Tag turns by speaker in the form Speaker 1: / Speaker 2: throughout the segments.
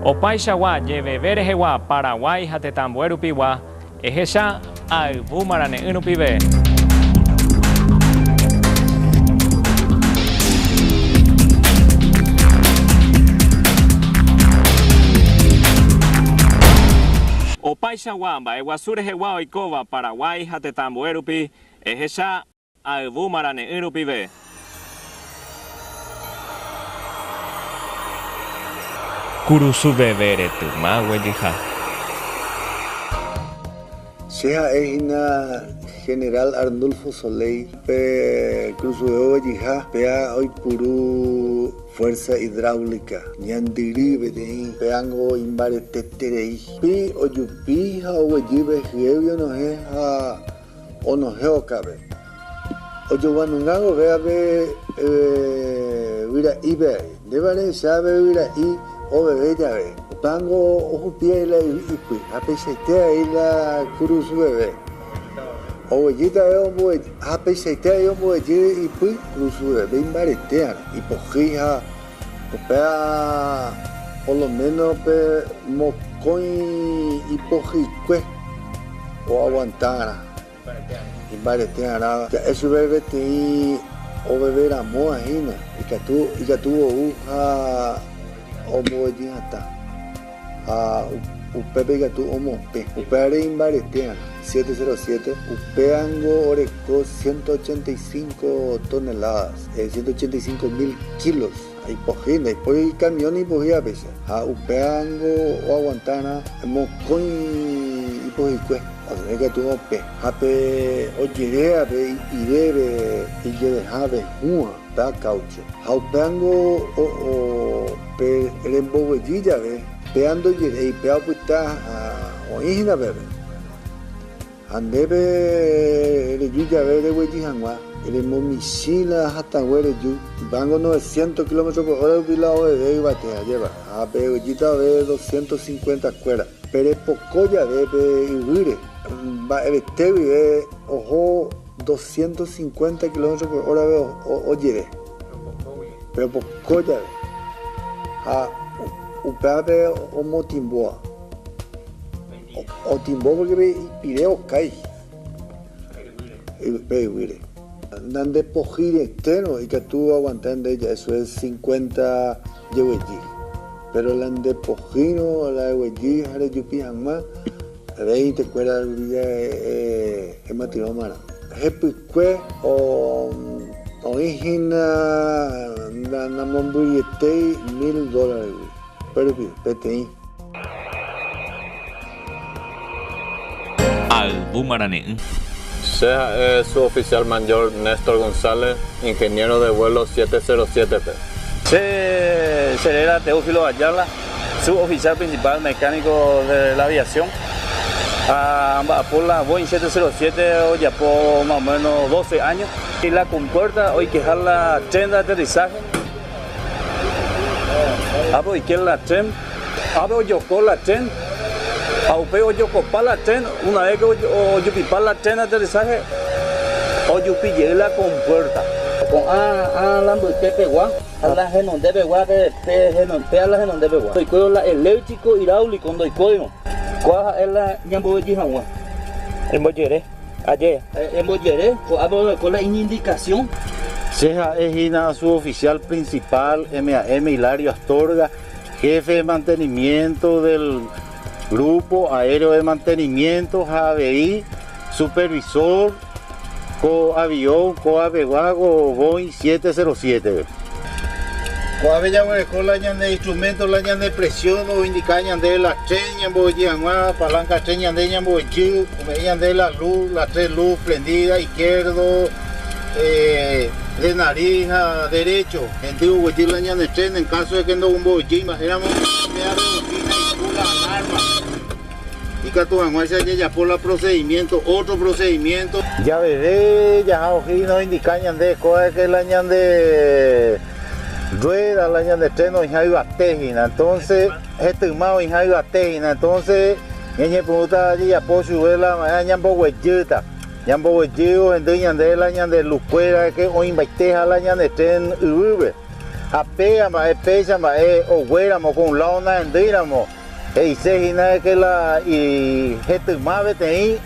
Speaker 1: Opaichagua jeveve rehegua Paraguái ha tetãmbue rupigua, ehecha ayvu marane'ỹ rupive. Opaichagua mba'eguasu rehegua oikóva Paraguái ha tetãmbue rupi, ehecha. Ha yvu marane'ỹ rupive. Kurusu veve retyma guejyha.
Speaker 2: Che ha'e hína General Arnulfo Soleil pe kurusuveve guejyha, péa oipuru fuerza hidráulica ñandyry peteĩ, péango imbareteterei. Pi ojupi ha oguejy ve hyégui onohẽ ha. Onohẽ okave. Ojoguanunga gove ave yvyra'ípe ái. Ndévare che ave yvyra'i oveve jave. Upángo ohupi ái la yvy ipy ha peichaite ái la kurusu veve. Oguejýta ave omboguejy ha peichaite ái omboguejy ipy kurusu veve imbaretéarõ, ipohýi ha. Upéva poloméno pe mokõi ipohyikue oaguantárõ imbaretéarã, ja'e chupe peteĩ oveveramóva hína ikatu ou ha ombovetyhatã. Ha upépe ikatu omopẽ. Upévare imbaretéarã, siete cero siete, upévango oreko ciento ochenta y cinco toneladas, ciento ochenta y cinco mil kilos. Ipohýi, ndaipóri ikamión ipohývapecha. Ha upévango oaguantarã mokõi ipohykue, osẽ ikatu opẽ. Ha pe ojerévape i'ivéve ijevehave hũva. Pe akáucho. Ha upéango o'o pe remboguejy jave, péa ndojeréi, péa opyta ha oĩ hína peve. Ha ndéve reju jave reguejy hag̃ua, remomichĩ la hatãgue reju, upéango noveciento kilómetro por hora rupi la oveve yvate ajéva, ha peguejýta ove doscientos cincuenta kuéra. Pe repoko jave pe yvýre, mba'evete guive oho doscientos cincuenta kilómetros por hora-pe ojeve, pe repoko jave, ha upévape omotimbóva. Otimbo pórke pe ipire okái pe yvýre. Nandepohyiretérõ ikatu aguanta nde ja'e Suez cincuenta jegueji. Péro la nde pohýirõ la eguejy ha rejupi hag̃ua rei tekuéra rupive ematyrõmarã. Hepykue oĩ hína namombyryetéi mil dólaregui, upérupi peteĩ.
Speaker 1: Ayvu marane'ỹ. Che
Speaker 3: ha'e su oficial mayor Nestor González, ingeniero de vuelo 707-pe. Che, che
Speaker 4: réra Teófilo Ayala, su oficial principal mecánico de la aviación, ha amba'apo la Boeing 707 ojapo más o menos doce años. Y la compuerta oikeha la tren de aterrizaje. ápe oike la tren, ápe ojoko la tren, ha upéi ojokopa la tren, una vez que ojupipa la tren de aterrizaje, ojupi jey la compuerta. Ko'ã ala mbyte pegua, ala henonde pegua, pe ala henonde pegua, ndoikuéirõ la eléctrico, hidráulico, ndoikóirõ. Ko'ã ha'e la ñamboveji haguã,
Speaker 5: embojere. Aje. Embojere,
Speaker 4: ko'ápe orekóva la iñindikasión. Che ha'e
Speaker 5: hína suoficial principal MAM Hilario Astorga, Jefe de Mantenimiento del Grupo Aéreo de Mantenimiento ha avei Supervisor ko aviõ kóapegua ko Boeing 707-pe.
Speaker 6: Ko'ápe jaguereko la ñane instrumento la ñane presión oindika ñandéve la tren ñambo'oyy hag̃ua, palanca tren ñande ñambo'oyy. Ome'ẽ ñande la lu, las tres lu prendida, izquierdo, de nariz ha derecho. Hendy oguejy la ñane tren en caso de que ndogumbovýi mba'éramo oime arrepentíta iku la alarma. Ikatu hag̃uáicha jajapo la procedimiento, otro procedimiento. Javeve
Speaker 5: jaha oje'i no indica ñande kóva de que la ñande rueda, la ñande tren oĩha yvate hína. Entonces. Etyma oĩha yvate hína, entonce ñañepyrũta jajapo chuve la mba'e ha ñamboguejýta. Ñamboguejy ohendy ñande la ñande lukuéra oĩmbaiteha la ñande tren yvýpe. Ha péga mba'e péicha mba'e oguéramo ko un lado nahendýiramo, he'ise hína de que la ijetyma peteĩ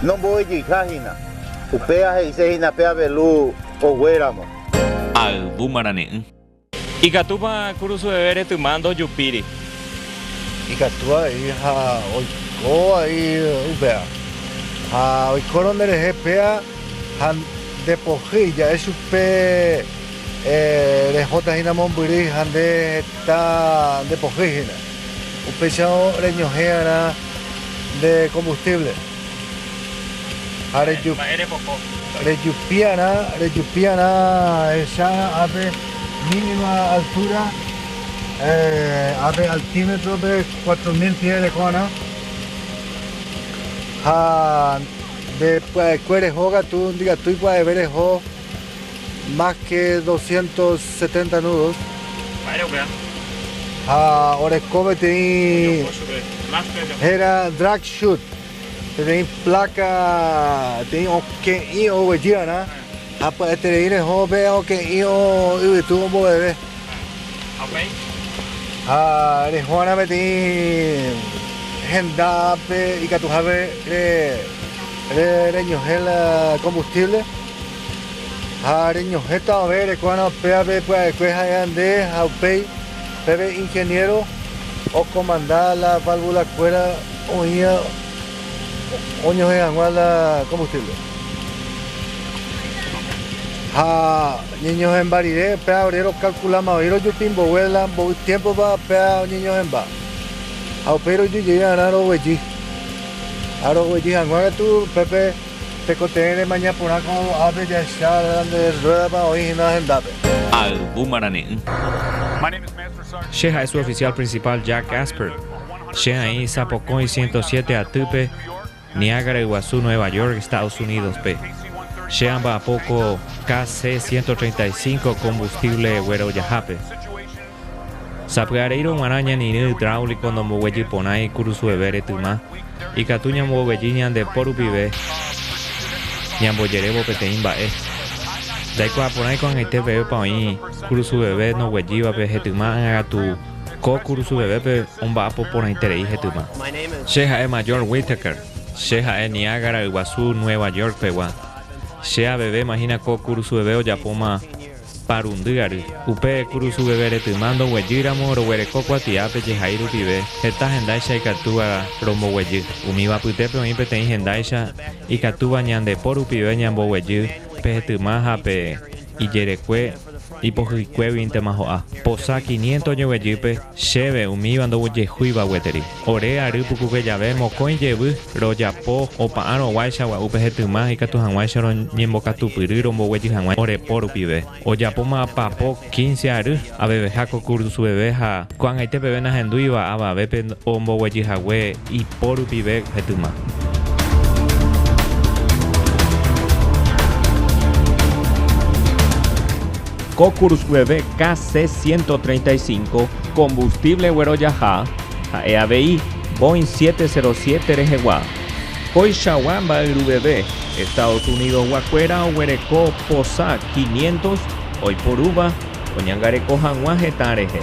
Speaker 5: nomboguejýiha hína. Upéva he'ise hína pe avelu oguéramo. Ayvu
Speaker 1: marane'ỹ. Ikatúpa kurusueve retyma ndojupíri.
Speaker 2: Ikatu avei ha oiko vai upéva. Ha oikórõ nde rehe péa ha nde pohýi ja'e chupe rehóta hína mombyry ha nde heta nde pohýi hína. Upéicharõ reñohẽ va'erã nde kombustíble. Ha rejupiarã, rejupiarã ehecha ápe mínima altúra, ápe altímetrope cuatro mil pie reko'arã, ha nde pya'ekuére ho katu ndikatúi pya'eve reho. más que doscientos setenta nudos. Mba'ére upéva? Ha oreko peteĩ héra drag shoot, peteĩ pláka peteĩ oke'ỹ oguejy va'erã ha pya'eterei reho pe oke'ỹ yvytu omboveve. Ha upéi? Ha reho va'erã peteĩ hendápe ikatuhápe reñohẽ la combustible. ha reñohẽta ove rekuarã péape pya'ekue ha'éva nde ha upéi peve ingeniero okomanda la válvula kuéra oĩva oñohẽ hag̃ua la combustible ha ñeñohẽmba rire péa ore rokalkulama voi rojupi mbogue la mboy tiempopa péa oñeñohẽmba ha upéi roju jey va'erã roguejy ha roguejy hag̃ua katu upépe Tekotevẽ remaña porã ko ápe jahecha nde rruédapa oĩ hína hendápe. Ayvu marane'ỹ.
Speaker 1: Che ha'e su oficial principal Jack Asper. Che aĩ sapokõi ciento siete atýpe Niágara Yguasu Nueva York, Estados Unidos-pe. Che amba'apo ko KC ciento treinta y cinco combustible guerojahápe. Sapy'areírõ g̃uarã ñanirỹ hidráulico ndomboguejy porãi kurusueve retyma, ikatu ñamboguejy ñande po rupive ñambojerévo peteĩ mba'e. Ndaikuaa porãi ko'ag̃aite pevépa oĩ kurusueve noguejývape hetyma ág̃akatu ko kurusuvevépe omba'apo porãiterei hetyma. Che ha'e Major Whittaker. Che ha'e Niágara Yguasu Nueva York pegua. Che aveve imagina ko kurusueve ojapóma Parundy ary. Upe kurusu veve retyma ndoguejýramo roguereko kuatiápe jehai rupive heta hendáicha ikatúva romboguejy. Umíva apytépe oĩ peteĩ hendáicha ikatúva ñande po rupive ñamboguejy pe hetyma ha pe ijerekue ipohyikuéguintema ho'a. Posa quiniento oñoguejýpe, chéve umíva ndoguejehúiva gueteri. Ore ary pukuke jave mokõi jevy, rojapo opa'arõguáicha gua'u pe hetyma ikatu hag̃uáicha roñembokatupyry romboguejy hag̃ua orepo rupive. Ojapóma papo quince ary, aveveha ko kursu veve ha ko'ag̃aite peve nahendúiva avavépe omboguejy hague ipo rupive hetyma. Ko kursu veve KC-135, Combustible guerojaha, Ha'e avei Boeing 707 rehegua. Koichagua mba'yruveve, Estados Unidosgua kuéra oguereko posa 500 oiporúva oñangareko hag̃ua hetã rehe.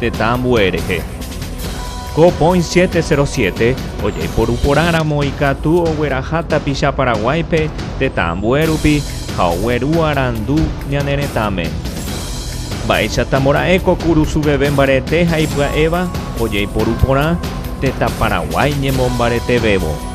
Speaker 1: Tetã ambue rehe. Ko Point 707 ojaiporu porã ramo ikatu ogueraha tapicha Paraguáipe tetã ambue rupi ha ogueru arandu ñane retãme. Mba'éichata mora'e ko kurusu veve mbarete ha ipya'éva ojaiporu porã tetã Paraguái ñemombaretevévo.